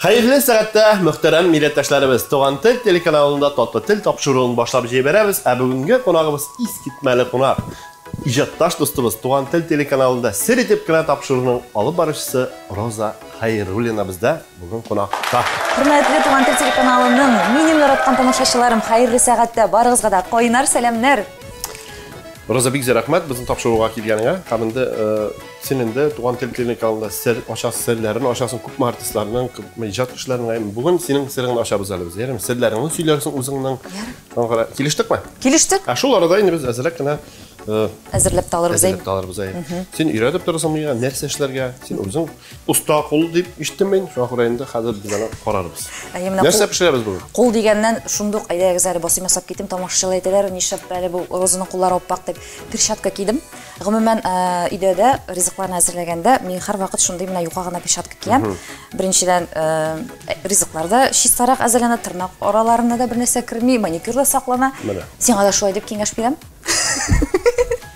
Хәерле сәгатьтә, мөхтәрәм милләттәшләребез! Туган тел телеканалында Татлы тел тапшыруын башлап җибәрәбез, ә бүгенге кунагыбыз искитмәле кунак, иҗатташ дустыбыз, Туган тел телеканалында Сер итеп кенә тапшыруның алып баручысы Роза Хәйруллина бездә бүген кунакта. Хөрмәтле Туган тел телеканалының минем яраткан тамашачыларым, хәерле сәгатьтә, барыгызга да кайнар сәламнәр! Роза, бик зур рәхмәт безнең тапшыруга килгәнеңә һәм инде Син инде Туган тел клиникалында сер ачасың, серләрен ачасың, күпме артистларның, күпме иҗат кешеләренең. Бүген синең сереңне ачабыз әле без. Ярыймы? Серләреңне сөйләрсең үзеңнең. Ярый. Килештекме? Килештек. Ә шул арада инде без әзрәк кенә э, әзерләп тә алырбыз. Әзерләп тә алырбыз. Син өйрәтеп торасың миңа нәрсә эшләргә? Син үзең оста кул дип ишеттем мин. Шуңа күрә инде хәзер без аны карарбыз. Нәрсә пешерәбез бүген? Кул дигәннән шундук әйдәгез әле басыйм ясап китим. Тамашачылар әйтәләр, нишләп әле бу Розаның куллары аппак дип перчатка кидем. Гомумән, өйдә дә ризыкларны әзерләгәндә мин һәрвакыт шундый менә юка гына перчатка киям. Беренчедән, ризыклар да чистарак әзерләнә, тырнак араларына да бернәрсә керми, маникюр да саклана. Сиңа да шулай дип киңәш бирәм.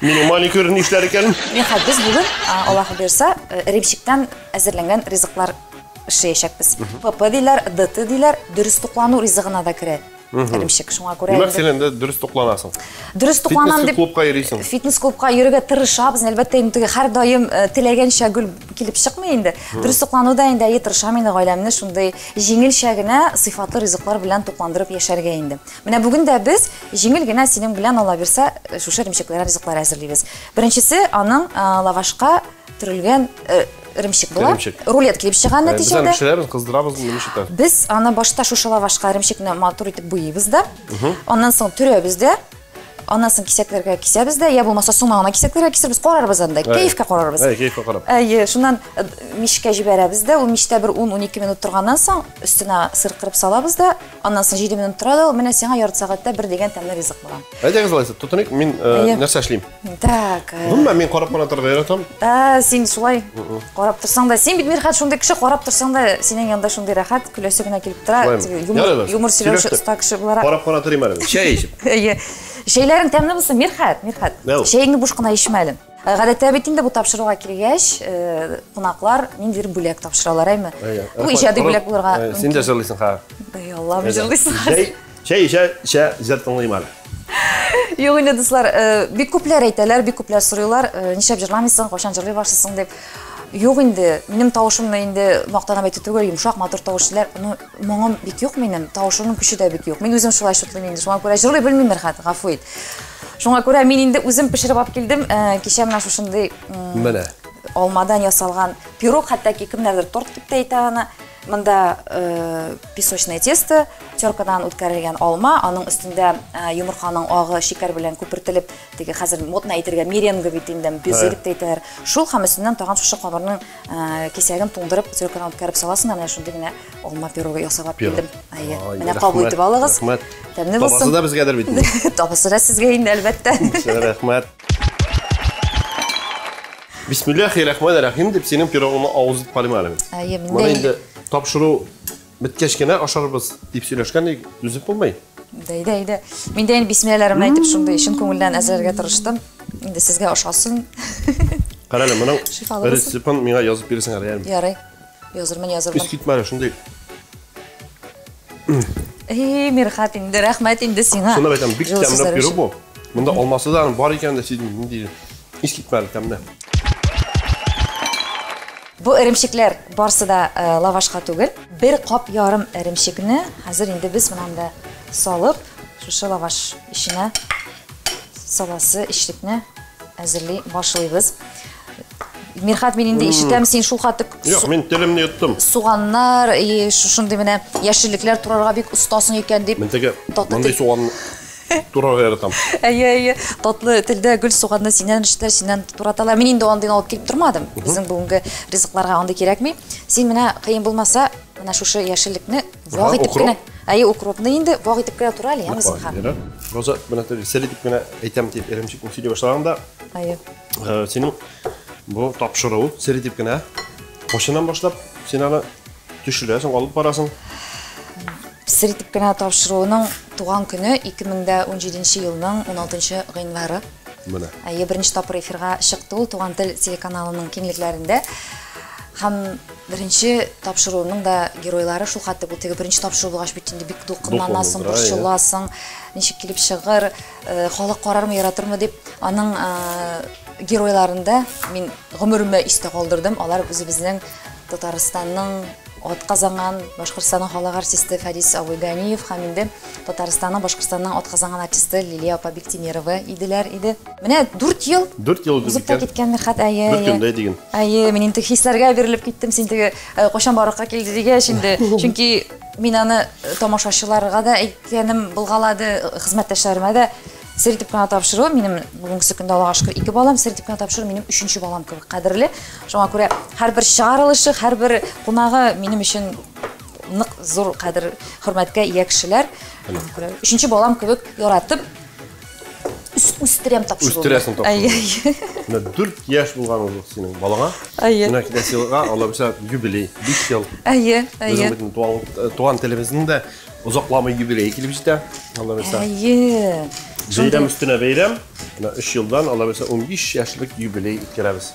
Минем маникюр нишләр икән? Нихәл, без бүген, Аллаһы бирса, эремчектән әзерләнгән ризыклар эшләячәкбез. ПП диләр, ДТ диләр, дөрес туклану ризыгына да керә. эремчек. Шуңа күрә Димәк, син инде дөрес тукланасың. Дөрес тукланам дип клубка йөрисең. Фитнес клубка йөрергә тырышабыз. Әлбәттә, инде теге һәр даим э, теләгәнчә гөл килеп чыкмый инде. Дөрес туклануда инде әйе тырышам инде гаиләмне шундый җиңелчә генә сыйфатлы ризыклар белән тукландырып яшәргә инде. Менә бүген дә без җиңел генә синең белән ала бирсә э, шушы эремчекләр ризыклар әзерлибез. Беренчесе аның э, лавашка төрелгән э, эремчек була. Эремчек. Рулет килеп чыга Без нәтиҗәдә. аны пешерәбез, кыздырабыз, ничек итә? Без аны башта шушы лавашка эремчекне матур итеп буйыйбыз да. Аннан соң төрәбез дә. Аннан соң кисәкләргә кисәбез дә, я булмаса соңа гына кисәкләргә кисербез, карарбыз анда, кәефкә карарбыз. Әй, кәефкә карап. Әйе, шуннан э, мичкә җибәрәбез дә, ул мичтә бер 10-12 минут торганнан соң өстенә сыр кырып салабыз да, Аннан соң җиде минут тора да ул, менә сиңа ярты сәгатьтә бер дигән тәмле ризык була. Әйдәгез алайса, тотыныйк, мин э, нәрсә эшлим? Так. Э, Гомумән, мин карап кына торырга яратам. Ә, син шулай карап торсаң да, син бит Мирхат шундый кеше, карап торсаң да, синең янда шундый рәхәт, көләсе генә килеп тора. Юмор, юмор сөйләүче оста кеше буларак. Карап кына торыйм әле. Чәй эчеп. Әйе. Чәйләрең тәмле булсын, Мирхат, Мирхат. Чәеңне буш кына эчмә әле. Э, гадәттә бит инде бу тапшыруга килгәч, э, кунаклар ниндидер бүләк тапшыралар, әйме? Бу иҗади бүләк булырга мөмкин. Син дә җырлыйсың хәзер. Ай, Аллам, җырлыйсың хәзер. Чәй эчә, эчә, җыр тыңлыйм әле. Юк инде, дуслар, э, бик күпләр әйтәләр, бик күпләр сорыйлар, нишләп җырламыйсың, кайчан җырлый башлыйсың дип. Юк инде, минем тавышымны инде мактанып әйтү түгел, йомшак, матур тавыш диләр. Ну, Моңым бик юк минем, тавышымның көче дә бик юк. Мин үзем шулай шутлыйм инде, шуңа күрә җырлый белмимдер хәт, гафу ит. Шуңа күрә мин инде үзем пешереп алып килдем. Э, кичә менә шушындый Менә. алмадан ясалган пирог, хәтта ки кемнәрдер торт дип тә әйтә аны. Монда э, песочное тесто, теркадан үткәрелгән алма, аның өстендә э, йомырканың агы шикәр белән күпертелеп, теге хәзер модно әйтергә меренга бит инде, безе дип тә әйтәләр. Шул һәм өстеннән тагын шушы камырның Э, кисәген туңдырып циркадан үткәреп саласың да менә шундый генә алма пирогы ясап алып килдем әйе менә кабул итеп алыгыз рәхмәт тәмле булсын табасы да безгәдер бит табасы да сезгә инде әлбәттә рәхмәт бисмиллахи рахмани рахим дип синең пирогыңны авыз итеп карыйм әле әйе менә инде тапшыру Беткәч кенә ашарбыз, дип сөйләшкән идек, түзеп булмый. Дә, әйдә, әйдә. Мин дә инде бисмилләһләре белән әйтеп шундый чын күңелдән әзерләргә тырыштым. Инде сезгә ошасын. Кара әле, моның Шифалы булсын. рецептын миңа язып бирсең әле, ярым. Ярый. Язырмын, язырмын. Искит мары шундый. Эй, Мирхат, инде рәхмәт инде сиңа. Шуны әйтәм, бик Җылы тәмле сүзләр пирог өчен. бу. Монда алмасы да бар икән дә сизмим, нинди искит мары тәмле. Бу эремчекләр барсы да лавашка түгел. Бер кап ярым эремчекне хәзер инде без менә монда салып, шушы лаваш эченә саласы эчлекне әзерли башлыйбыз. Мирхат, мин инде ишетәм, син шулкадәр күп Юк, мин телемне йоттым. Суганнар, шушындый менә яшеллекләр турарга бик остасың икән дип. Мин теге мондый суган Тура яратам. Әйе, әйе. Татлы телдә гөл суганны синнән эшләр, синнән тураталар. Мин инде андыйны алып килеп тормадым. Безнең бүгенге ризыкларга андый кирәкми. Син менә кыен булмаса, менә шушы яшеллекне вак итеп кенә. Әйе, укропны инде вак итеп кенә тура әле, яме зинһар. Роза, менә сәл итеп кенә әйтәм дип, эремчекне сөйли башлаганда. Әйе. Э, синең бу тапшыруың сәл итеп кенә. Кошынан башлап, син аны Төшерәсең, алып барасың. Сер итеп кенә тапшыруның туган көне 2017 елның 16 гыйнвары. Менә. Әйе, беренче тапкыр эфирга чыкты ул Туган тел телеканалының киңлекләрендә. Һәм беренче тапшыруның да геройлары шул хәтле бу теге беренче тапшыру булгач бит инде бик дулкынланасың, борчыласың, ничек килеп чыгыр, Халык карармы, яратырмы дип, аның геройларында мин гомеремә истә калдырдым. Алар үзебезнең Татарстанның атказанган Башкортстанның халык артисты Фәрис абый Ганиев һәм инде Татарстанның Башкортстанның атказанган артисты Лилия апа Биктимирова иделәр иде. Менә 4 ел. 4 ел узып киткән. Киткән Мирхат әйе. Бер көндә диген. Әйе, мин инде хисләргә бирелеп киттем. Син теге кайчан баракка килде дигәч инде. Чөнки мин аны тамашачыларга да әйттем. Киянем булгалады, хезмәттәшләремә дә сер итеп кенә тапшыру, минем бүгенгесе көндә Аллага шөкер ике балам, сер итеп кенә тапшыру минем өченче балам кебек кадерле. Шуңа күрә һәрбер чыгарылышы, һәрбер кунагы минем өчен нык зур кадер, хөрмәткә ия кешеләр. Шуңа күрә өченче балам кебек яратып үс- үстерәм тапшыру. Үстерәсең тапшыру. Әйе, әйе. Менә дүрт яшь булган ул синең балаңа. Әйе. Менә киләсе елга алла бирса юбилей, биш ел. Әйе, Безнең әйе. бит туган, туган телебезнең дә Озакламый юбилей килеп җитә. Алла бирса. Әйе. Бәйрәм өстенә бәйрәм. Менә 3 елдан Алла бирса 15 яшьлек юбилей үткәрәбез.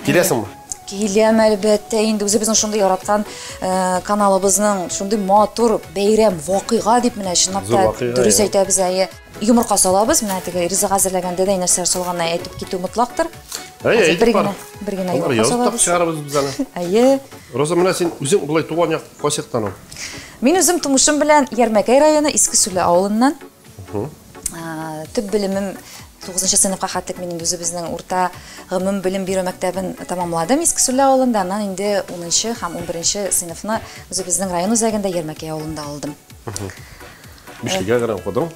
Киләсеңме? Киләм әлбәттә, инде үзебезнең шундый яраткан э, каналыбызның шундый матур бәйрәм вакыйга дип менә чынлап та дөрес әйтәбез әйе. Йомырка салабыз, менә теге ризык әзерләгәндә дә нәрсәләр салганны әйтеп китү мотлактыр. Әйе, бер генә, бер генә йомырка салабыз. Чыгарабыз без аны. Әйе. Роза, менә син үзең болай туган як Кайчактан ул? Мин үзем тумышым белән Ярмәкәй районы Иске Сүле авылыннан. Төп белемем 9 сыйныфка хәтлек мин инде үзебезнең урта гомум белем бирү мәктәбен тамамладым Иске Сүле авылында. Аннан инде 10 һәм 11 сыйныфны үзебезнең район үзәгендә Ярмәкәй авылында алдым. Бишлегә генә укыдың?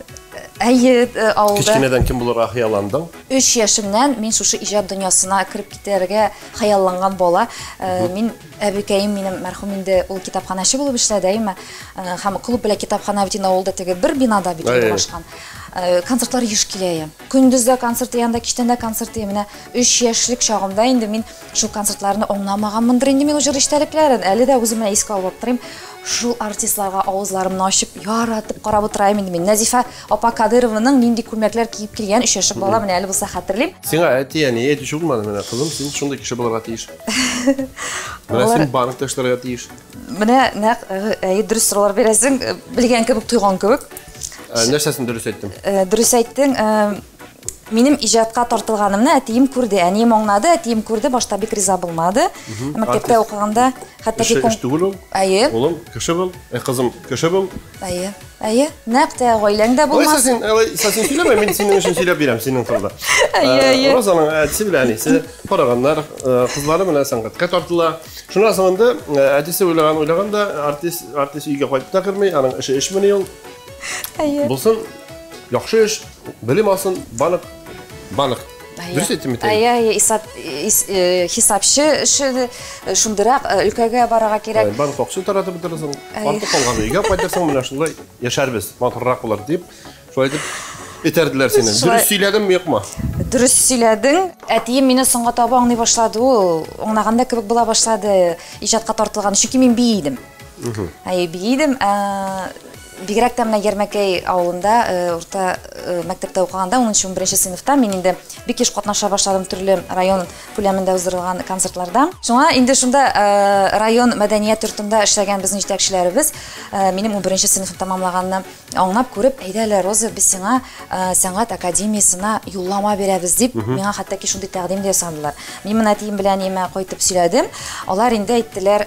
Әйе, э, авылда. Кечкенәдән кем булырга хыялландың? 3 яшемнән мин шушы иҗат дөньясына кереп китәргә хыялланган бала. Э, мин әбекәем минем мәрхүм инде ул китапханәче булып эшләде, әйме. Э, һәм клуб белән китапханә бит авылда теге бер бинада бит урнашкан. Концертлар еш килә. Көндез дә концерт, янда кичтән дә концерт. Менә 3 яшьлек чагымда инде мин Шул концертларны аңламаганмындыр инде мин җыр эчтәлекләрен. Әле дә үземә искә алып аптырыйм. Шул артистларга авызларымны ачып, яратып карап утыраем инде мин. Нәзифә апа Кадырованың нинди күлмәкләр киеп килгән өчәшек бала, менә әле булса хәтерлим. Сиңа әти, әни әйтүче булмады, менә кызым, син шундый кеше булырга тиеш. Менә син банкта эшләргә тиеш. Менә нәкъ әйе дөрес сораулар бирәсең, белгән кебек, тойган кебек. Нәрсәсен дөрес әйттем? Дөрес әйттең. Минем иҗатка тартылганымны әтием күрде, әнием аңлады, әтием күрде, башта бик риза булмады. Мәктәптә укыганда хәтта Кеше эш түгел ул. Әйе. Улым, кеше бул. Ә кызым, кеше бул. Әйе. Әйе. Нәкъ тә гаиләң дә булмас. Алайса син, алайса син сөйләмә, мин синең өчен сөйләп бирәм, синең турыда. Әйе, әйе. Розаның әтисе белән әнисе караганнар, кызлары менә сәнгатькә тартыла. Шуннан соң инде әтисе уйлаган, уйлаган да артист, артист өйгә кайтып та керми, аның эше эшмени ул. Әйе. Булсын, яхшы эш. Белем алсын банк, банк. Дөрес әйттем бит. Әйе, әйе, исап э, хисапчы эше э, шундырак э, өлкәгә барырга кирәк. Банк акча таратып бетерсең, артык калган өйгә кайтырсың, менә шулай яшәрбез, матуррак булыр дип, шулай дип Этәрделәр сине. Дөрес сөйләдем юкмы? Дөрес сөйләдең. Әтием мине соңга таба аңлый башлады. Ул аңлаганда кебек була башлады. Иҗатка тартылган. Чөнки мин би идем. Әй, би идем. Бигрәк тә менә Ярмәкәй авылында урта мәктәптә укыганда, 10-11 сыйныфта мин инде бик еш катнаша башладым төрле район күләмендә уздырылган концертларда. Шуңа инде шунда район мәдәният йортында эшләгән безнең җитәкчеләребез минем 11 сыйныфны тәмамлаганны аңлап күреп, әйдә әле, Роза, без сиңа сәнгать академиясенә юллама бирәбез, дип, миңа хәтта ки шундый тәкъдим дә ясадылар. Мин моны әтием белән әниемә кайтып сөйләдем, алар инде әйттеләр,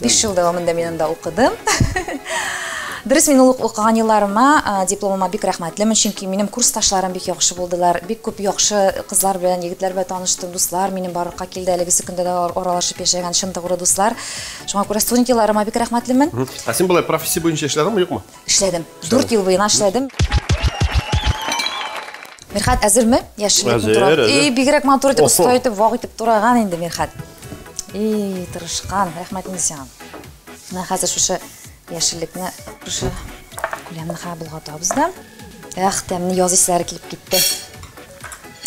Биш ел дәвамында мин анда укыдым. Дөрес, мин ул укыган елларыма, дипломыма бик рәхмәтлемен, чөнки минем курсташларым бик яхшы булдылар. Бик күп яхшы кызлар белән, егетләр белән таныштым, дуслар минем барлыкка килде, әлегесе көндә дә аралашып яшәгән чын тугры дуслар. Шуңа күрә студент елларыма бик рәхмәтлемен. Ә син болай профессия буенча эшләдеңме, юкмы? Эшләдем. Дүрт ел буена эшләдем. Мирхат, әзерме? Яшеллекне турап. Әзер, әзер. И, бигрәк матур итеп, оста итеп, вак итеп тураган инде Мирхат. И, тырышкан, рәхмәт Низян. Менә хәзер шушы яшеллекне шушы күләмне хәб болгатабыз да. Эх, тәмне яз исләре килеп китте.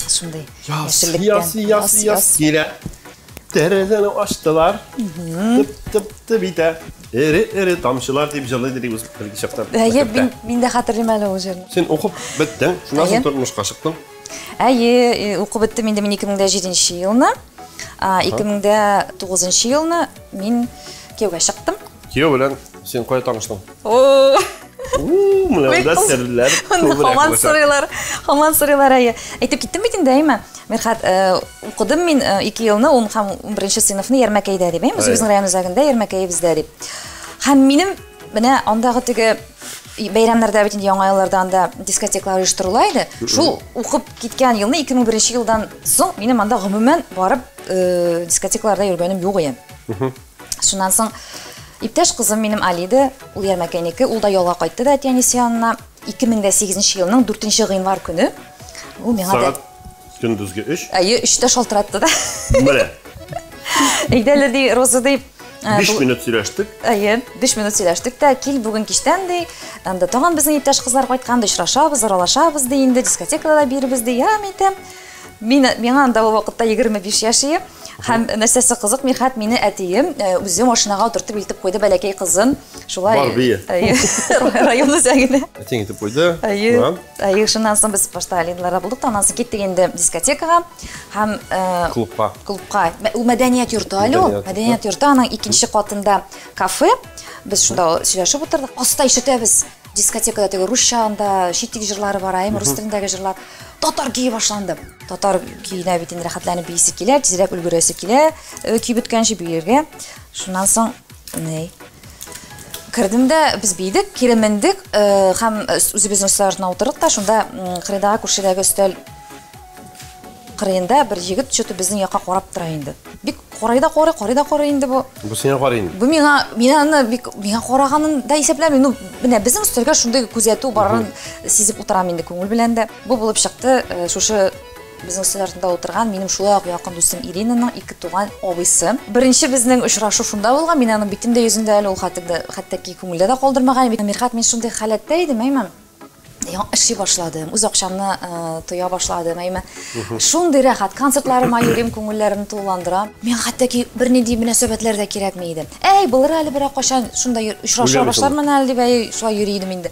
Шундый яшеллектән. Яз, яз, яз, килә. Тәрәзәне ачтылар. Тып, тып, тып итә. Эре, эре тамчылар дип җылы дип үз беренче чакта. Әйе, мин, мин дә хәтерлим әле ул җырны. Син укып беттең, шуннан соң тормышка чыктың. Әйе, укып беттем инде мин 2007 елны. 2009 нчы елны мин кияүгә чыктым. Кияү белән син кая таныштың? О! Менә монда серләр күбрәк. Хаман сорыйлар, хаман сорыйлар әйе. Әйтеп киттем бит инде, әйме? Мирхат, укыдым мин 2 елны 10 һәм 11 сыйныфны Ярмәкәйдә дип, әйме? Үзебезнең район үзәгендә Ярмәкәй бездә дип. Һәм минем менә андагы теге Бәйрәмнәрдә бит инде яңа елларда анда дискотеклар оештырыла иде. Шул укып киткән елны 2001 елдан соң минем анда гомумән барып э, дискотекларда йөргәнем юк иде. Шуннан соң иптәш кызым минем Алиде, ул Ярмәкәйнеке, ул да ялга кайтты да әти-әнисе янына. 2008 елның 4 гыйнвар көне ул миңа да Сәгать Көндезге өч? Әйе, өчтә шалтыратты да. Менә. Әйдәле ди, Роза ди, Ә, биш минут сөйләштек әйе биш минут сөйләштек тә кил бүген кичтән ди анда тагын безнең иптәш кызлар кайткан ди очрашабыз аралашабыз ди инде дискотекада да бирбез ди я әйтәм мин миңа анда ул вакытта егерме биш яшь ием һәм нәрсәсе кызык мирхәт мине әтием э, үзе машинага утыртып илтеп куйды бәләкәй кызын Шулай. Бар бие. Әйе. Район үзәгенә. Әтең итеп куйды. Әйе. Әйе, шуннан соң без башта Алинларда булдык, аннан соң киттек инде дискотекага һәм э, клубка. Клубка. Ул мәдәният йорты әле ул. Мәдәният йорты аның икенче катында кафе. Без шунда сөйләшеп утырдык. Аста ишетәбез дискотекада теге русча анда читик җырлары бар, әйме рус телендәге җырлар. Татар көе башланды. Татар көенә бит инде рәхәтләнеп бийсе килә, тизрәк өлгерәсе килә, э, көй беткәнче биергә. Шуннан соң Ней. Кердем дә, без бийдек, кире мендек, э, һәм э, үзебезнең өстәл артына утырдык та, шунда кырыйдагы күршедәге өстәл кырыенда бер егет что-то безнең якка карап тора инде. Бик карый да карый, карый да карый инде бу. Бу сиңа карый инде. Бу миңа, мин аны бик миңа караганын да исәпләмим. Ну, менә безнең өстәлгә шундый күзәтү барын сизеп утырам инде күңел белән дә. Бу булып чыкты, э, шушы Безнең өстәл артында утырган минем шулай ук якын дустым Иринаның ике туган абыйсы. Беренче безнең очрашу шунда булган. Мин аның битен дә, йөзен дә әле ул хәтта хәтта ки күңелдә дә калдырмаган идем. Мирхат, мин шундый халәттә идем, әйме, яңа эшли башладым, үз акчамны тоя башладым, әйме, шундый рәхәт, концертларыма йөрим, күңелләрен тулыландырам. Миңа хәтта ки бернинди мөнәсәбәтләр дә кирәкми иде. Әй, булыр әле берәр кайчан, шунда очраша башлармын әле дип, әй, шулай йөри идем инде.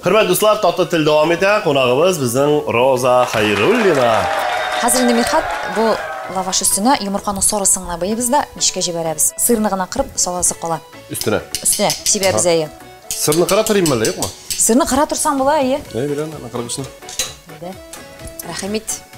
Хөрмәт дуслар, тату тел дәвам итә. Кунагыбыз безнең Роза Хайруллина. Хәзер инде Мирхат бу лаваш өстенә йомырканың сарысын гына быйбыз да мичкә җибәрәбез. Сырны гына кырып саласы кала. Өстенә. Өстенә сибәбез әйе. Сырны кыра торыйм әле, юкмы? Сырны кыра торсаң була, әйе. Әйе, беләм, кыргышны. Әйдә. Рәхим ит.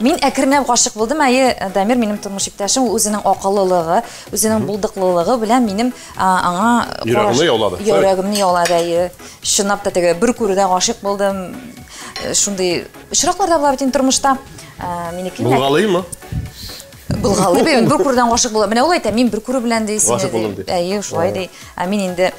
Мин әкренләп гашык булдым. Әйе, Дамир минем тормыш иптәшем, ул үзенең акыллылыгы, үзенең булдыклылыгы белән минем а, аңа караш- Йөрәгеңне яулады. Йөрәгемне яулады, әйе. Чынлап та теге бер күрүдә гашык булдым. Э, Шундый очраклар да була бит инде тормышта. Э, Минеке инде- Булгалыймы? Булгалый бит, бер күрүдән гашык була. Менә ул әйтә, мин бер күрү белән ди сине. Гашык булдым, ди. Әйе, шулай ди. Ә мин инде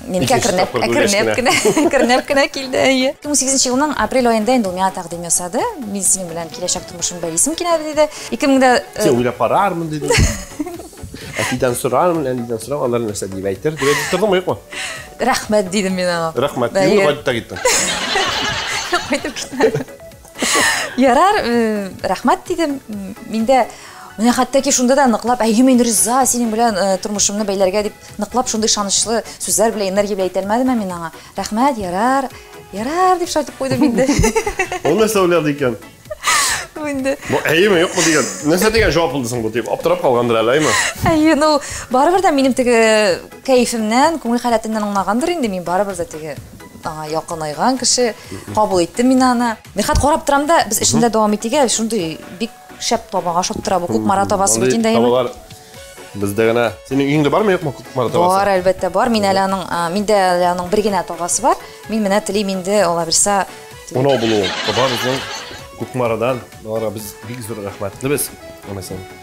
Мин кә кернәп, кернәп кенә, кернәп кенә килде, әйе. 2008 елның апрель айында инде ул миңа тәкъдим ясады. Мин синең белән киләчәк тормышым бәйлисем килә диде. 2000дә Син уйлап карармын диде. Әтидән сорармын, әнидән сорам, алар нәрсә дип әйтер, дип әйтеп тордыңмы, юкмы? Рәхмәт дидем мин аңа. Рәхмәт, дидем, кайтып та киттем. Кайтып киттем. Ярар, э, рәхмәт дидем. Миндә менә хәтта шунда да ныклап, әйе, мин риза синең белән э, тормышымны бәйләргә дип ныклап шундый ышанычлы сүзләр белән энергия белән әйтә алмадым ә мин аңа. Рәхмәт, ярар. Ярар дип шайтып куйдым инде. Ул нәрсә уйлады икән? инде. Бу әйеме, юкмы дигән. Нәрсә дигән җавап булды соң бу дип аптырап калгандыр әле, әйме? Әйе, ну, барыбер дә минем теге кәефемнән, күңел халәтеннән аңлагандыр инде мин, барыбер дә теге Аңа якынайган кеше кабул итте мин аны. Нихат карап торам да, без эшендә дәвам итик әле, шундый бик шәп табага шап тора бу күк мара табасы бит инде. Табалар бездә генә. Синең өеңдә бармы юкмы күк мара табасы? Бар, әлбәттә бар. Мин әле аның, миндә әле аның бер генә табасы бар. Мин менә телим инде, ала бирсә. Унау булуы. Табар үзең күк марадан. Аларга без бик зур рәхмәтлебез. Аны син.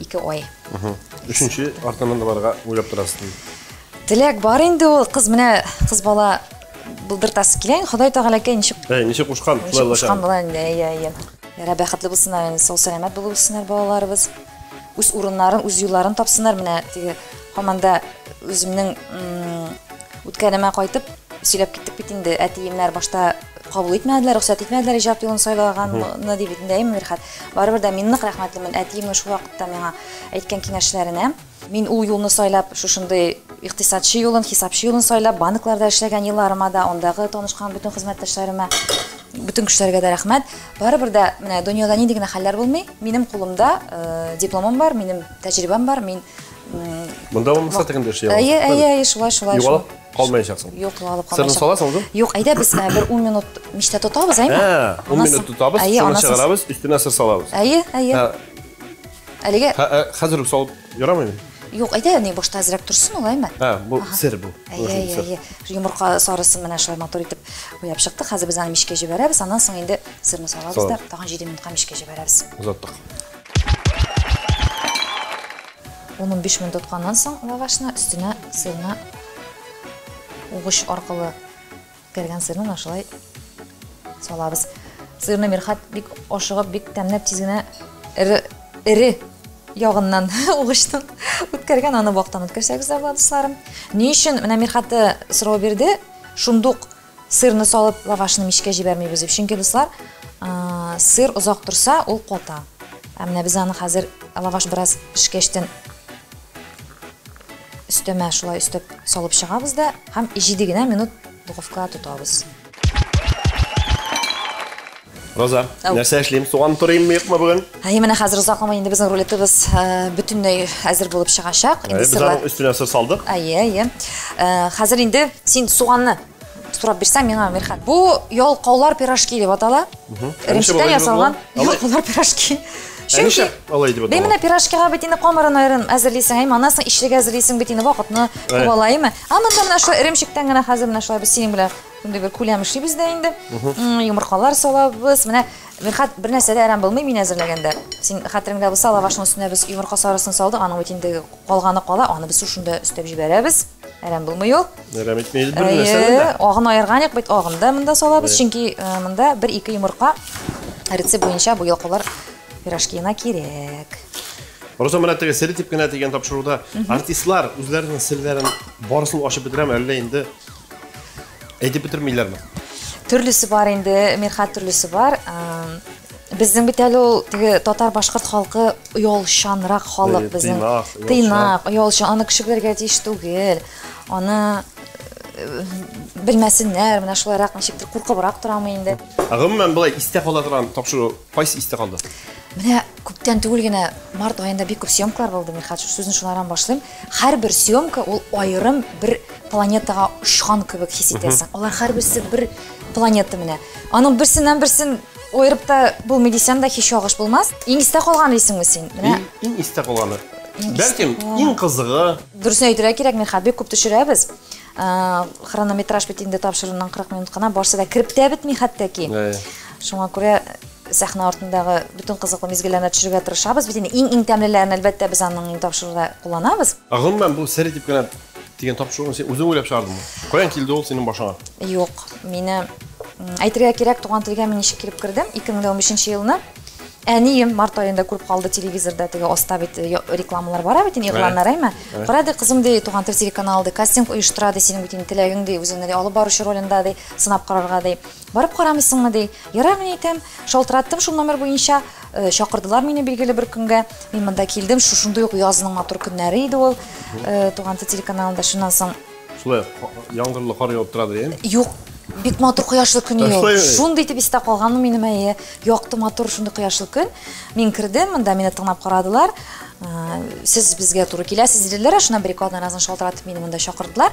Ике ай. Өченче артыннан да барырга уйлап торасызмы? Теләк бар инде ул, кыз менә кыз бала булдыртасы килә. Ходай Тәгаләкәй ничек Әй, ничек кушкан? Ничек кушкан була инде, әйе, әйе. Ярай, бәхетле булсыннар инде, сау сәламәт булып үссеннәр балаларыбыз. Үз урыннарын, үз юлларын тапсыннар. Менә теге хаманда үземнең үткәнемә кайтып сөйләп киттек бит инде. Әтиемнәр башта Кабул итмәделәр, рөхсәт итмәделәр иҗат юлын сайлаганны дип инде әйме, Мирхәт. Барыбер дә мин нык рәхмәтлемен әтиемнең шул вакытта миңа әйткән киңәшләренә. Мин ул юлны сайлап, шушындый икътисадчы юлын, хисапчы юлын сайлап, банкларда эшләгән елларыма да, андагы танышкан бөтен хезмәттәшләремә, бөтен кешеләргә дә рәхмәт. Барыбер дә менә дөньяда нинди генә хәлләр булмый, минем кулымда э, дипломым бар, минем тәҗрибәм бар, мин Монда булмаса, тегендә эшли аласыз. Әйе, әйе, әйе, шулай, шулай. Югалып Калмаячаксың. Юк, югалып калмаячак. Сырны саласың узын? Юк, әйдә без ә, бер 10 минут мичтә тотабыз, әйме? Ә, 10 минут тотабыз, сырны чыгарабыз, өстенә сыр салабыз. Әйе, әйе. Әлегә Хәзер үк салып ярамыймы? Юк, әйдә, ни башта әзрәк торсын ул, әйме? Ә, бу сер бу. Әйе, әйе. Йомырка сарысын менә шулай матур итеп уяп чыкты. Хәзер без аны мичкә җибәрәбез, аннан соң инде сырны салабыз да, тагын 7 минутка мичкә җибәрәбез. Озаттык. Ун-унбиш минут тотканнан соң лавашны өстенә сырны угыч аркылы кергән сырны менә шулай салабыз. Сырны Мирхат бик ашыгып, бик тәмләп тиз генә эре, эре ягыннан угычтан үткәргән, аны вактан үткәрсәгез дә була, дусларым. Ни өчен менә Мирхат сорау бирде, шундук Сырны салып, лавашны мичкә җибәрмибез дип. Чөнки, дуслар, сыр озак торса, ул ката. Ә менә без аны хәзер лаваш бераз пешкәчтен өстәмә шулай өстәп салып чыгабыз да һәм 7 генә минут духовкага тотабыз. Роза, нәрсә эшлим? Суган турыйм мыйкмы бүген? Әй, менә хәзер озакламый инде безнең рулетыбыз э, бөтенләй әзер булып чыгачак. Инде сырлар. Без үстенә сыр салдык. Әйе, әйе. Э, хәзер инде син суганны сорап бирсәң миңа Мирхан. Бу ялкаулар пирожки дип атала. Ремчтән ясалган ялкаулар пирожки. Чөнки алай дип атала. Менә пирожкига бит инде камырын аерын әзерлисең, әй манасың ишлегә әзерлисең бит инде вакытны куалаймы? Ә монда менә шулай ремчектән генә хәзер менә шулай без синең белән Шундый бер күләм эшлибез дә инде. М, Йомыркалар салабыз. Менә Мирхат бер нәрсә дә әрәм булмый мин әзерләгәндә. Син хәтереңдә булса, лавашның өстенә без йомырка сарысын салдык, аның бит инде калганы кала, аны без шушында өстәп җибәрәбез. Әрәм булмый ул. Әрәм итмәйбез бер нәрсәне Әйе, дә. агын аерганык юк бит, агын да монда салабыз, Әйе. чөнки э, монда бер-ике йомырка рецепт буенча бу йолкалар пирожкиына кирәк. Роза менә теге сер дип кенә дигән тапшыруда артистлар үзләренең серләрен барысын ачып бетерәме, әллә инде Әйтеп бетермиләрме? Төрлесе бар инде, Мирхат төрлесе бар. Безнең бит әле ул теге татар-башкорт халкы оялчанрак халык безнең. Тыйнак, оялчан. Аны кеше белергә тиеш түгел. Аны белмәсеннәр, менә шулайрак ничектер куркыбрак торамы инде. Гомумән, былай истә кала торган тапшыру кайсы истә калды? Менә Күптән түгел генә март аенда бик күп съемкалар булды, Мирхат, сүзне шулардан башлыйм. Һәрбер съемка ул аерым бер планетага очкан кебек хис итәсең. Алар һәрберсе бер планета менә. Аның берсеннән берсен аерып та булмый дисәм дә һич ялгыш булмас. Иң истә калган дисеңме син? Менә Иң истә калганы. Бәлкем, иң кызыгы. Дөресен әйтергә кирәк, Мирхат, бик күп төшерәбез. Хронометраж бит инде тапшыруның 40 минут кына, барсы да кереп тә бетми хәтта ки. Шуңа күрә сәхнә артындагы бөтен кызыклы мизгелләрне төшерергә тырышабыз. Бит инде иң-иң тәмлеләрен, әлбәттә, без аның тапшыруда кулланабыз. Ә гомумән бу сер итеп кенә дигән тапшыруны син үзең уйлап чыгардыңмы? Каян килде ул синең башыңа? Юк, мине әйтергә кирәк, туган телгә мин ничек килеп кердем? 2015 елны әнием март аенда күреп калды телевизорда теге аста бит э, рекламалар бара бит инде игъланнар әйме кара ди кызым ди туган тел телеканалы ди кастинг оештыра ди синең бит инде теләгең ди үзеңне ди алып баручы ролендә ди сынап карарга ди Барып карамыйсыңмы, ди. Ярар, мин әйтәм. Шалтыраттым шул номер буенча. Чакырдылар мине билгеле бер көнгә. Мин монда килдем, шушындый ук язның матур көннәре иде ул. Туган тел телеканалында шуннан соң. Шулай яңгырлы кар явып тора ди. Юк, бик матур кояшлы көн иде ул. Шундый итеп истә калганмы минем, әйе. Якты, матур, шундый кояшлы көн. Мин кердем, монда мине тыңлап карадылар. Сез безгә туры киләсез, диделәр. Шуннан бер-ике атнадан соң шалтыратып мине монда чакырдылар.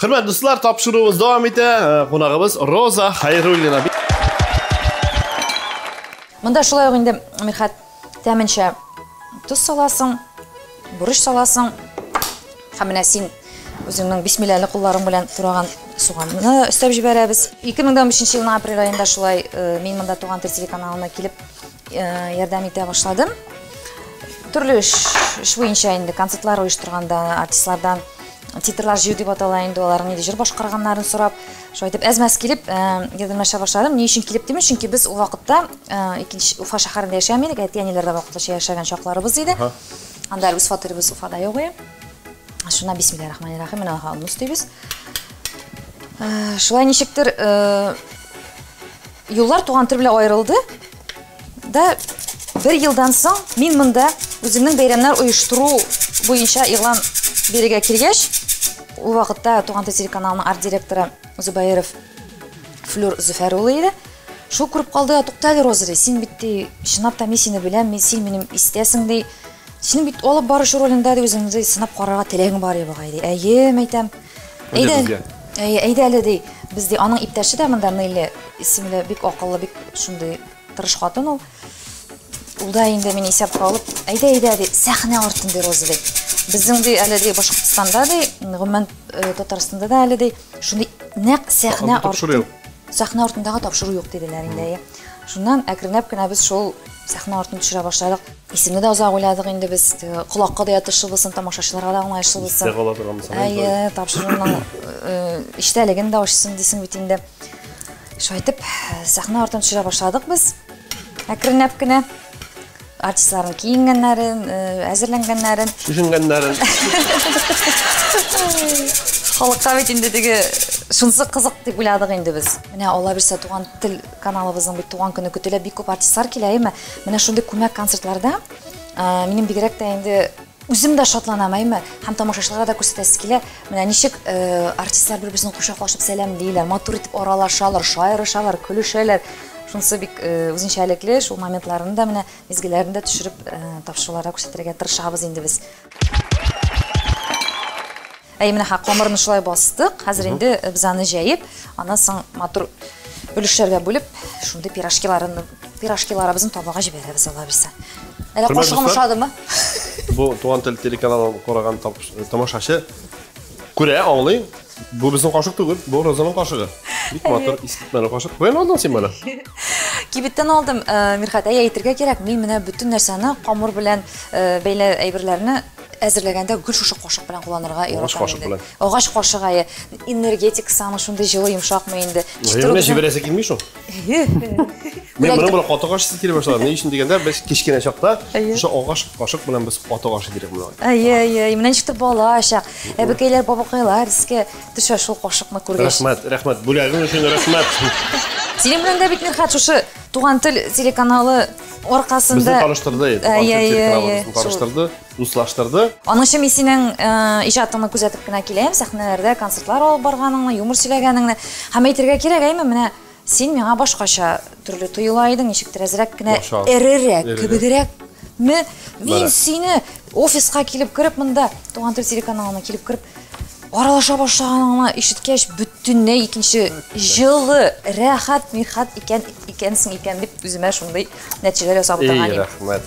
Хөрмәт дуслар, тапшыруыбыз дәвам итә. Э, кунагыбыз Роза Хайруллина. Монда шулай ук инде Мирхат тәменчә тоз саласың, бурыч саласың. Һәм менә син үзеңнең бисмилләле кулларың белән тураган суганны өстәп җибәрәбез. 2015 елның апрель аенда шулай э, мин монда туган тел телеканалына килеп Ярдәм итә башладым. Төрле эш, эш буенча инде концертлар оештырганда артистлардан титрлар җыю дип атала инде аларның нинди җыр башкарганнарын сорап, шулай итеп әз-мәз килеп ярдәмләшә башладым. Ни өчен килеп димим, чөнки без ул вакытта икенче Уфа шәһәрендә яшәми идек, әти-әниләрдә вакытлыча яшәгән чакларыбыз иде. Анда үз фатирыбыз Уфада юк иде. Шуна бисмиллаһи рахмани рахим менә ха аны өстибез. Шулай ничектер Юллар туган тел белән аерылды. Да бер елдан соң мин монда үземнең бәйрәмнәр оештыру буенча игълан бирергә килгәч, ул вакытта Туган тел телеканалының арт-директоры Зубаеров Флюр Зөфәр улы иде. Шул күреп калды, туктале Розри, син бит ди, чынлап та мин сине беләм, мин син минем истәсең ди. Син бит алып баручы ролендә дә үзеңне сынап карарга теләгең бар иде бугай, ди. Әйе, мәйтәм. Әйдә, безгә. Әйе, әйдә әле, ди. Без, ди, аның иптәше дә монда Нелли исемле, бик акыллы, бик шундый тырыш хатын ул. Ул да инде мине исәпкә алып, әйдә, әйдә, ди, сәхнә артын, ди, Роза, ди. Безнең, ди, әле, ди, Башкортстанда, ди, гомумән, э, Татарстанда да әле, ди, шундый нәкъ сәхнә Анда тапшыру артын. юк. Сәхнә артындагы тапшыру юк, диделәр инде, әйе. Шуннан әкренләп кенә без шул сәхнә артын төшерә башладык. Исемне дә озак уйладык инде без. Колакка да ятышлы булсын, тамашачыларга да уңаешлы булсын. Истә кала торган булсын. Әйе, тапшыруның эчтәлеген дә ачсын дисең бит инде. Шайтып, сәхнә артын төшерә башладык без. Әкренләп кенә артистларның киенгәннәрен, әзерләнгәннәрен, төшенгәннәрен. Халыкка бит инде теге шунсы кызык дип уйладык инде без. Менә алла бирсә туган тел Каналыбызның бит туган көне көтелә, бик күп артистлар килә, әйме? Менә шундый күмәк концертларда минем бигрәк тә инде үзем дә шатланам, әйме? Һәм тамашачыларга да күрсәтәсе килә. Менә ничек артистлар бер-берсен кочаклашып сәламлиләр, матур итеп аралашалар, шаярышалар, көлешәләр. Шунысы бик үзенчәлекле, шул моментларны да менә мизгелләрен дә төшереп тамашачыларга күрсәтергә тырышабыз инде без. Әй, менә ха, камырны шулай бастык. Хәзер инде без аны җәеп, аннан соң матур өлешләргә бүлеп, шундый пирожкиларын, пирожкиларыбызны табага җибәрәбез ала бирсә. Әле Хөрмәтле кошыгым дуслар. ошадымы? Бу Туган тел телеканалын караган тап- тамашачы күрә, аңлый. Бу безнең кашык түгел, бу Розаның кашыгы. Бик матур, искитмәле кашык. Каян алдың син моны? Кибеттән алдым, э, Мирхат, әй әйтергә кирәк, мин менә бөтен нәрсәне камыр белән э, бәйле әйберләрне Әзерләгәндә гел шушы кашык белән кулланырга яратам инде. Агач кашык әйе. Энергетик самый шундый җылы йомшакмы инде. Җиренә җибәрәсе килми шул. Мин моны бер каты кашык килеп башлады. Ни өчен дигәндә, без кечкенә чакта шушы агач кашык белән без каты кашык идек моны. Әйе, әйе. Менә ничек тә бала чак. Әбекәйләр, бабакайлар искә төшә шул кашыкны күргәч. Рәхмәт, рәхмәт. Бүләгең өчен рәхмәт. Синең белән дә бит, Мирхат, шушы Туган тел телеканалы аркасында Безне таныштырды, э, Туган тел телеканалы безне таныштырды, дуслаштырды. Аның өчен мин синең э, иҗатыңны күзәтеп кенә киләм, сәхнәләрдә концертлар алып барганыңны, юмор сөйләгәнеңне. Һәм әйтергә кирәк, әйме, менә син миңа башкача төрле тоела идең, ничектер әзрәк кенә эрерәк, кебегрәк Ме, мин сине офиска килеп кереп монда, туган тел телеканалына килеп кереп, Аралаша башлаганын гына ишеткәч, бөтенләй икенче җылы, рәхәт, михәт икән икәнсең икән дип үземә шундый нәтиҗәләр ясап утырган идем. Рәхмәт.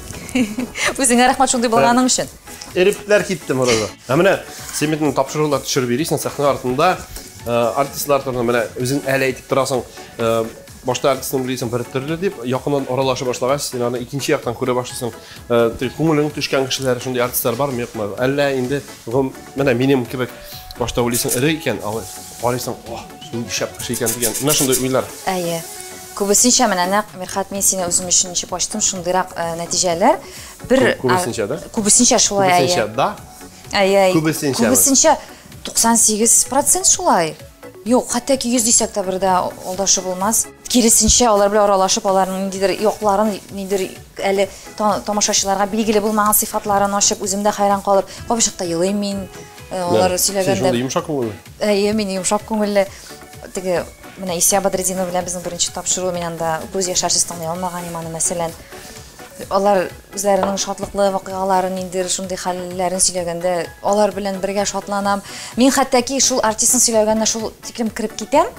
Үзеңә рәхмәт шундый булганың өчен. Эрипләр китте монда. Ә менә син бит тапшырулар төшереп йөрисең сәхнә артында. Э, артистлар турында менә үзең әле әйтеп торасың. Э, башта артистны белисең бер төрле дип, якыннан аралаша башлагач, син аны икенче яктан күрә башлыйсың. Э, күңелең төшкән кешеләр шундый артистлар бармы юкмы әллә инде менә минем кебек башта уйлыйсың эре икән ал карыйсың о шундый шәп кеше икән дигән менә шундый уйлар әйе күбесенчә менә нәкъ мирхат мин сине үзем өчен ничек ачтым шундыйрак э, нәтиҗәләр бер күбесенчә да күбесенчә шулай әйе күбесенчә да әйе күбесенчә күбесенчә туксан сигез процент шулай Юк, хәтта ки йөз дисәк тә бердә алдашы булмас. Киресенчә, алар белән аралашып, аларның ниндидер якларын, ниндидер Әле тамашачыларга билгеле булмаган сыйфатларын ачып, үзем дә хәйран калып, капчыкта елыйм мин. Э, алар сөйләгәндә... Син шундый йомшак күңелле? Әйе, мин йомшак күңелле. Теге, менә Исия Бадретдинова белән безнең беренче тапшыру, мин анда күз яшәрсез тыңлый алмаган идем аны, мәсәлән. Алар үзләренең шатлыклы вакыйгаларын, инде шундый хәлләрен сөйләгәндә, алар белән бергә шатланам. Мин хәтта ки шул артистның сөйләгәненә шул тиклем кереп китәм,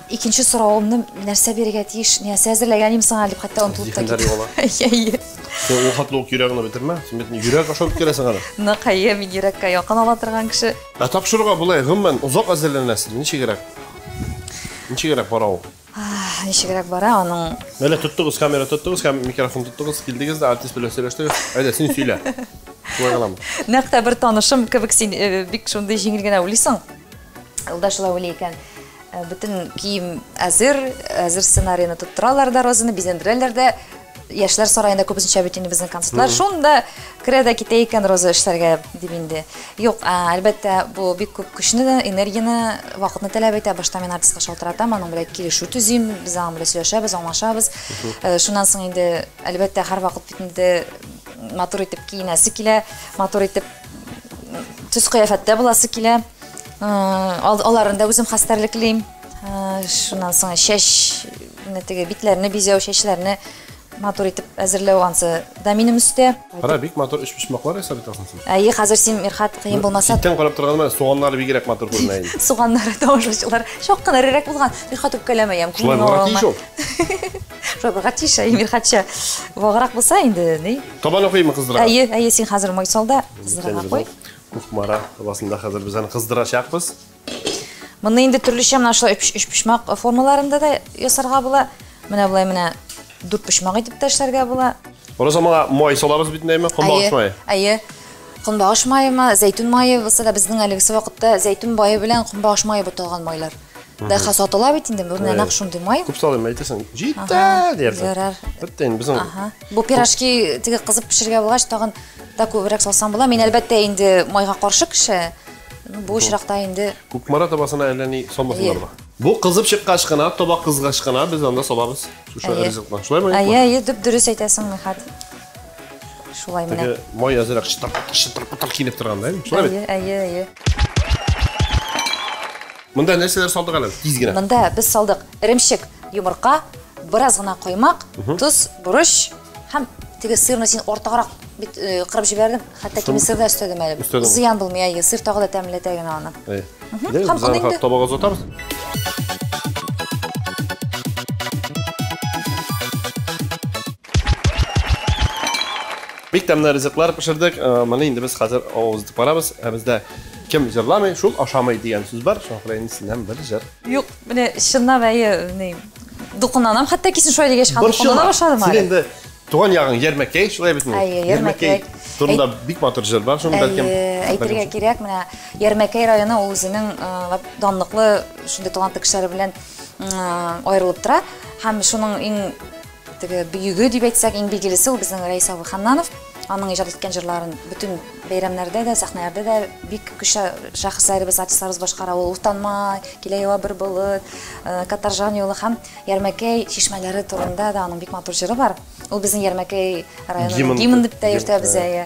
Икенче соравымны нәрсә бирергә тиеш? Нәрсә әзерләгән идем сиңа дип хәтта онытылып та Зиһеннәр югала. китте. Әйе. Сен ул хәтле үк йөрәгеңне бетермә. Син бит йөрәк аша үткәрәсең аны. Нык әйе, мин йөрәккә якын ала торган кеше. Ә тапшыруга болай гомумән озак әзерләнәсезме? Ничегрәк? Ничегрәк бара ул? Ничегрәк бара аның? Менә тоттыгыз, камера тоттыгыз һәм микрофон тоттыгыз, килдегез дә артист белән сөйләштегез. Әйдә, син сөйлә. Шулай гынамы? Нәкъ тә бер танышым кебек син э, бик шундый җиңел генә уйлыйсың. Юлдаш Лауле икән. Э, бөтен кием әзер, әзер сценарийны тоттыралар да розаны, бизәндерәләр дә. Яшьләр сараенда күбесенчә бит инде безнең концертлар. Шунда керә дә китә икән роза эшләргә дип инде. Юк, әлбәттә, бу бик күп көчне, энергияне, вакытны таләп итә. Башта мин артистка шалтыратам, аның белән килешү төзим, без аның белән сөйләшәбез, аңлашабыз. Э, шуннан соң инде, әлбәттә, һәрвакыт бит инде матур итеп киенәсе килә, матур итеп төс кыяфәттә буласы килә. Аларын да үзем хәстәрлеклим. Шуннан соң чәч, теге битләрне бизәү, чәчләрне матур итеп әзерләү ансы да минем өстә. Кара, бик матур өч почмаклар ясап итәсең син. Әйе, хәзер син Мирхат кыен булмаса. Читтән карап торганда суганнары бигрәк матур күренә инде. Суганнары тамашачылар шок кына рерәк булган. Мирхат үпкәләмә ям. Шулай булган тиеш ул. Шулай булган тиеш, Мирхатча. Ваграк булса инде, ни? Кабаны куймы кыздырырга? Әйе, әйе, син хәзер май сал да кыздырырга куй. Кухмара табасында хәзер без аны кыздырачакбыз. Моны инде төрлечә менә шулай өч почмак формаларында да ясарга була. Менә болай менә дүрт почмак итеп тә эшләргә була. Oraz аңа май салабыз бит инде, кунбагыш мае. Әйе. Кунбагыш майымы, зәйтүн майы булса да безнең әлеге вакытта зәйтүн мае белән кунбагыш мае буталган майлар. Дәха сатыла бит инде, бу нәнәк шундый май. Күп салыйм, әйтәсең, җитә, диярсең. Ярар. Бетте инде безнең Бу пирожки теге кызып пешергә булгач, тагын да күбрәк салсам була. Мин әлбәттә инде майга каршы кеше. Бу очракта инде Кукмара табасына әллә ни салмасыннар ба. Бу кызып чыккач кына, таба кызгач кына без анда салабыз. Шушы ризыкны. Шулай ма? Әйе, әйе, дип дөрес әйтәсең, Михат. Шулай менә. Теге май азрак чытыр, чытыр, чытыр килеп торган да. Шулай бит. Әйе, әйе, әйе. Монда нәрсәләр салдык әле? Тиз генә. Монда без салдык. Эремчек, йомырка, бераз гына коймак, тоз, борыч һәм теге сырны син артыграк бит э, кырып җибәрдем. Хәтта кими сыр да өстәдем әле. Өстәдең. Зыян булмый, әйе, сыр тагы да тәмләтә генә аны. Әйе. Дәл Һәм аны инде- табага озатабыз. Бик тәмле ризыклар пешердек. Э, Моны инде без хәзер авыз итеп барабыз. Ә бездә кем җырламый, шул ашамый дигән сүз бар. Шуңа күрә инде синнән бер җыр. Юк, Менә чынлап әйе, ни, дулкынланам, хәтта кисен шулай дигәч, хан дулкынлана башладым әле. Син инде туган ягың Ярмәкәй, шулай бит инде. Әйе, Ярмәкәй. Турында бик матур җыр бар, шуны бәлкем. Әйтергә кирәк, менә Ярмәкәй районы ул үзенең э, данлыклы шундый талантлы кешеләре белән э, аерылып тора һәм шуның иң Теге бөеге дип әйтсәк, иң билгелесе ул безнең Рәис абый Ханнанов. Аның иҗат иткән җырларын бөтен бәйрәмнәрдә дә, сәхнәләрдә дә бик көчле шәхесләребез, артистларыбыз башкара. Ул Утанмай, Килә ява бер болыт, Катаржан юлы һәм Ярмәкәй чишмәләре турында да аның бик матур җыры бар. Ул безнең Ярмәкәй районының гимны дип тә йөртәбез, әйе.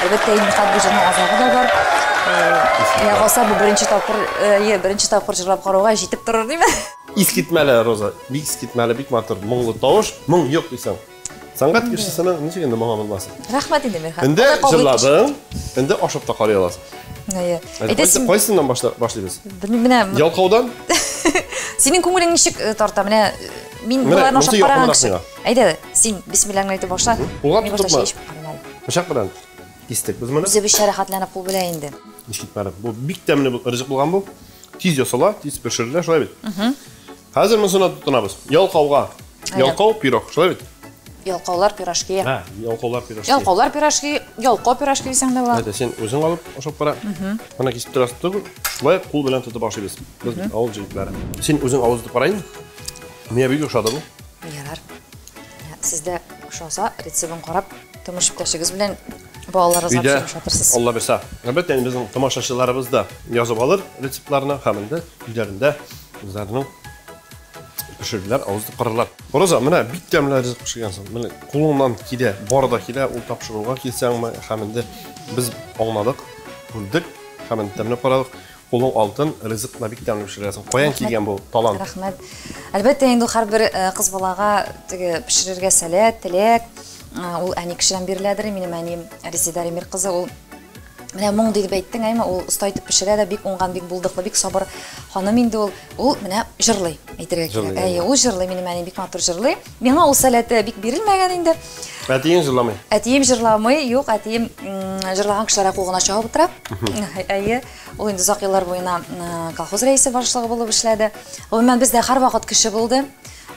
Әлбәттә, инде хат җырның азагы да бар. Э, я гаса бу беренче тапкыр, э, беренче тапкыр җырлап карауга җитеп торыр диме? Искитмәле Роза, бик искитмәле, бик матур, моңлы тавыш, моң юк дисең. Сәнгать кешесенең ничек инде моңа булмасын? Рәхмәт инде, Мирхан. Инде җырладың, инде ашап та карый аласың. Әйе. Әйдәсең. Кайсыннан башлыйбыз? Белмим, менә. Ялкаудан? Синең күңелең ничек э, тарта? Менә мин боларны ашап караган кеше. Әйдә, син бисмилләңне әйтеп башла. Улап тотма. Бычак белән кистек без моны. Үзе бишә рәхәтләнеп кул белән инде. Ишетмәде. Бу бик тәмле бу ризык булган бу. Тиз ясала, тиз пешерелә, шулай бит. Хәзер монысына тотынабыз. Ялкауга. Ялкау пирог, шулай бит. Ялкаулар пирожки. Һә, ялкаулар пирожки. Ялкаулар пирожки, ялкау пирожки дисәң дә була. Әйдә, син үзең алып ашап кара. Менә кисеп торасыз түгел. Шулай кул белән тотып ашыйбыз. Без авыл җегетләре. Син үзең авыз итеп кара инде. Миңа бик ошады бу. Ярар. Сездә ошаса, рецебын карап, томыш иптәшегез белән балаларыгызга пешереп шатырсыз. Алла бирсә. Әлбәттә, инде безнең тамашачыларыбыз да язып алыр рецептларны һәм инде өйләрендә үзләренең пешерерләр, авыз итеп карарлар. Роза, менә бик тәмле ризык пешергәнсең. Менә кулыңнан килә, бар да килә, ул тапшыруга килсәңме, һәм инде без аңладык, күрдек һәм инде тәмләп карадык. Кулың алтын, ризыкны бик тәмле пешерәсең. Каян килгән бу талант? Рәхмәт. Әлбәттә, инде һәрбер э, кыз балага теге пешерергә сәләт, теләк. Э, ул әни кешедән биреләдер. Минем әнием Резеда Ремир кызы, ул менә моң дип әйттең, әйме, ул оста итеп пешерә дә, бик уңган, бик булдыклы, бик сабыр ханым инде ул. Ул менә җырлый, әйтергә кирәк. Әйе, ул җырлый, минем әни бик матур җырлый. Миңа ул сәләте бик бирелмәгән инде. Әтиең җырламый? Әтием җырламый, юк, әтием җырлаган кешеләр кугына чабып утыра. Әйе, ул инде озак еллар буена колхоз рәисе башлыгы булып эшләде. Гомумән бездә һәрвакыт кеше булды.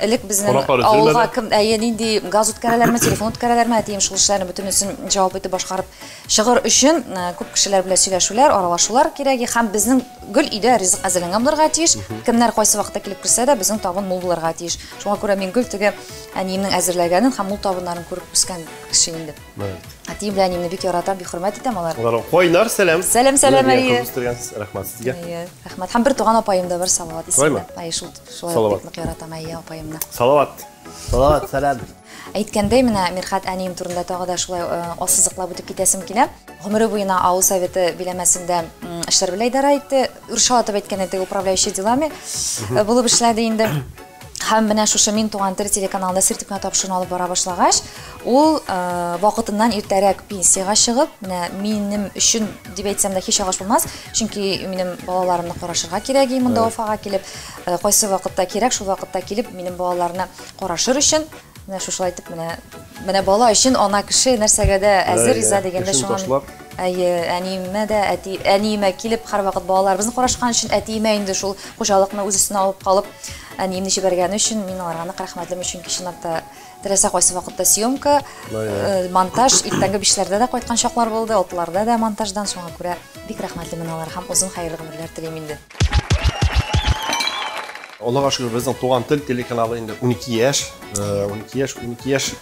Элек безнең авылга кем, әйе, нинди газ үткәрәләрме, телефон үткәрәләрме, әтием шул эшләрне бөтенесен җавап итеп башкарып чыгыр өчен күп кешеләр белән сөйләшүләр, аралашулар кирәге һәм безнең гөл өйдә ризык әзерләнгән булырга тиеш. Кемнәр кайсы вакытта килеп керсә дә, безнең табын мул булырга тиеш. Шуңа күрә мин гел теге әниемнең әзерләгәнен һәм ул табыннарын күреп үскән кеше инде. Әтием белән әниемне бик яратам, бик хөрмәт итәм алар. Алар кайнар сәлам. Сәлам, сәлам, әйе. Үстергәнсез, рәхмәт сезгә. Әйе, рәхмәт. Һәм бер туган апаем да бар, Салават исемле. Әйе, шул шулай бик нык яратам, әйе, апаемны. Салават. Салават, сәлам. Әйткәндәй, менә Мирхәт әнием турында тагы да шулай ассызыклап үтеп китәсем килә. Гомере буена авыл советы биләмәсендә эшләр белән идарә итте. Үрчә атып әйткәндә, теге управляющий делами булып эшләде инде. Һәм менә шушы Мин туган тел телеканалында сер типмә тапшыруын алып бара башлагач, ул вакытыннан иртәрәк пенсиягә чыгып, менә минем өчен дип әйтсәм дә һич агач булмас, чөнки минем балаларымны карашырга кирәк иде монда Уфага килеп. Кайсы вакытта кирәк, шул вакытта килеп, минем балаларны Карашыр өчен менә шушылай итеп менә менә бала өчен ана кеше нәрсәгә дә әзер риза дигәндә шуңа әйе әниемә дә әти әниемә килеп һәрвакыт балаларыбызны карашкан өчен әтиемә инде шул хуҗалыкны үз өстенә алып калып әниемне җибәргәне өчен мин аларга нык рәхмәтлем чөнки чынлап та теләсә кайсы вакытта съемка э, монтаж иртәнге бишләрдә дә кайткан чаклар булды алтыларда да монтаждан шуңа күрә бик рәхмәтлемен аларга һәм озын хәерле гомерләр телим инде Аллага шөкер, безнең Туган тел телеканалы инде 12 яшь, 12 яшь, 12 яшь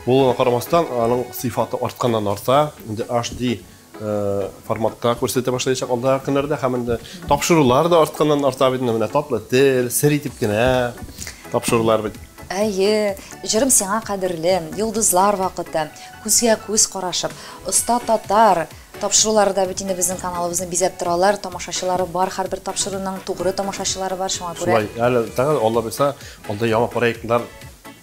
булуына карамастан, аның сыйфаты артканнан арта. Инде HD э, форматта күрсәтә башлаячак алда көннәрдә һәм инде тапшырулар да артканнан арта бит менә татлы тел, сер итеп кенә тапшырулар бит. Әйе, җырым сиңа кадерле, йолдызлар вакыты, күзгә күз карашып, оста татар, Тапшырулары да бит инде безнең каналыбызны бизәп торалар, тамашачылары бар, һәрбер тапшыруның тугры тамашачылары бар, шуңа күрә. Шулай, әле тагын Алла бирса, андый яңа проектлар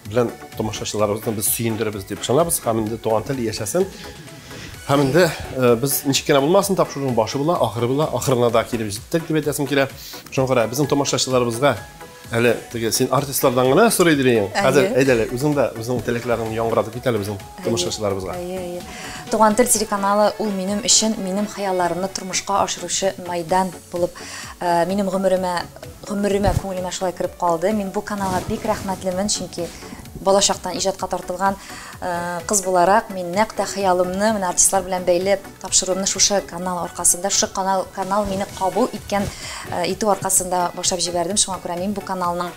белән тамашачыларыбызны без сөендерербез дип ышанабыз, һәм инде туган тел яшәсен. Һәм инде без ничек кенә булмасын, тапшыруның башы була, ахыры була, ахырына да килеп җиттек дип әйтәсем килә. Шуңа күрә безнең тамашачыларыбызга Әле теге син артистлардан гына сорый дилең. Хәзер әйдә әле үзең дә үзеңнең теләкләреңне яңгыратып кит әле безнең тормышчыларыбызга. Әйе, әйе. Туган тел телеканалы ул минем өчен минем хыялларымны тормышка ашыручы майдан булып, э, минем гомеремә гомеремә күңелемә шулай кереп калды. Мин бу каналга бик рәхмәтлемен, чөнки балачактан иҗатка тартылган э, кыз буларак мин нәкъ тә хыялымны менә артистлар белән бәйләп Тапшыруымны шушы канал аркасында, шушы канал, канал мине кабул иткән, э, итү аркасында башлап җибәрдем. Шуңа күрә мин бу каналның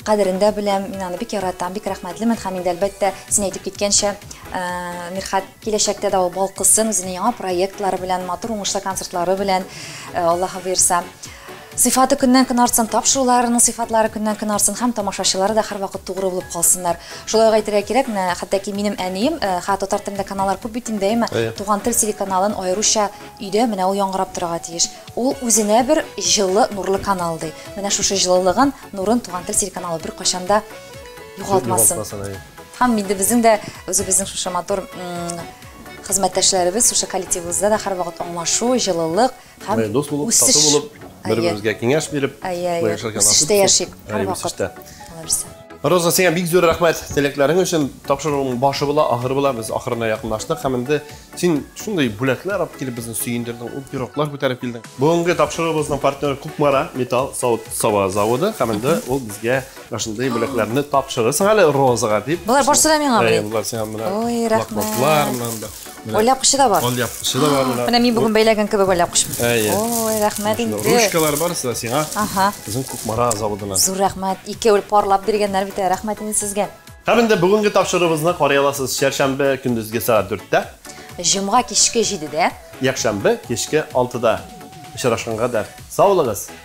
кадерен дә беләм, мин аны бик яратам, бик рәхмәтлемен һәм инде әлбәттә, син әйтеп киткәнчә, э, Мирхәт киләчәктә дә ул балкысын, үзенең яңа проектлары белән, матур уңышлы концертлары белән, э, Аллаһы боерса. Сыйфаты көннән-көн артсын, тапшыруларының сыйфатлары көннән-көн артсын һәм тамашачылары да һәрвакыт тугры булып калсыннар. Шулай ук әйтергә кирәк, менә хәтта ки минем әнием, ха, татар телендә каналлар күп бит инде, әйеме? Әйе. Туган тел телеканалын аеруча өйдә менә ул яңгырап торырга тиеш. Ул үзенә бер җылы, нурлы канал, ди. Менә шушы җылылыгын, нурын Туган тел телеканалы беркайчан да югалтмасын. Югалтмасын, әйе. Һәм инде безнең дә үзебезнең шушы матур, м, хезмәттәшләребез, шушы коллективыбызда да һәрвакыт аңлашу, җылылык, Һәм дус булып, тату булып, бер-беребезгә киңәш биреп, яшәргә насыйп итсен. Яшик, һәрвакыт. Роза, сиңа бик зур рәхмәт теләкләрең өчен. Тапшыруың башы була, ахыры була. Без ахырына якынлаштык һәм инде син шундый бүләкләр алып килеп безне сөендердең, ул пироглар күтәреп килдең. Бүгенге тапшыруыбызның партнеры Кукмара металл савыт саба заводы һәм инде ул безгә шундый бүләкләрне тапшырырсың әле Розага дип. Болар барсы да миңа. Болар сиңа менә. Ой, рәхмәт. Менә Аль япкычы да бар. Аль япкычы да бар менә. Менә мин бүген бәйләгән кебек аль япкычмы? Әйе. Ой, рәхмәт инде. Ручкалар барысы да сиңа. Ага. Безнең Кукмара заводына. Зур рәхмәт. Икәү парлап биргәннәр бит. Э, рәхмәт инде сезгә. Һәм инде бүгенге тапшыруыбызны карый аласыз. Чәршәмбе көндезге сәгать 4-тә. Җомга кичке 7-дә. Якшәмбе кичке 6-да. Очрашканга да сау булыгыз.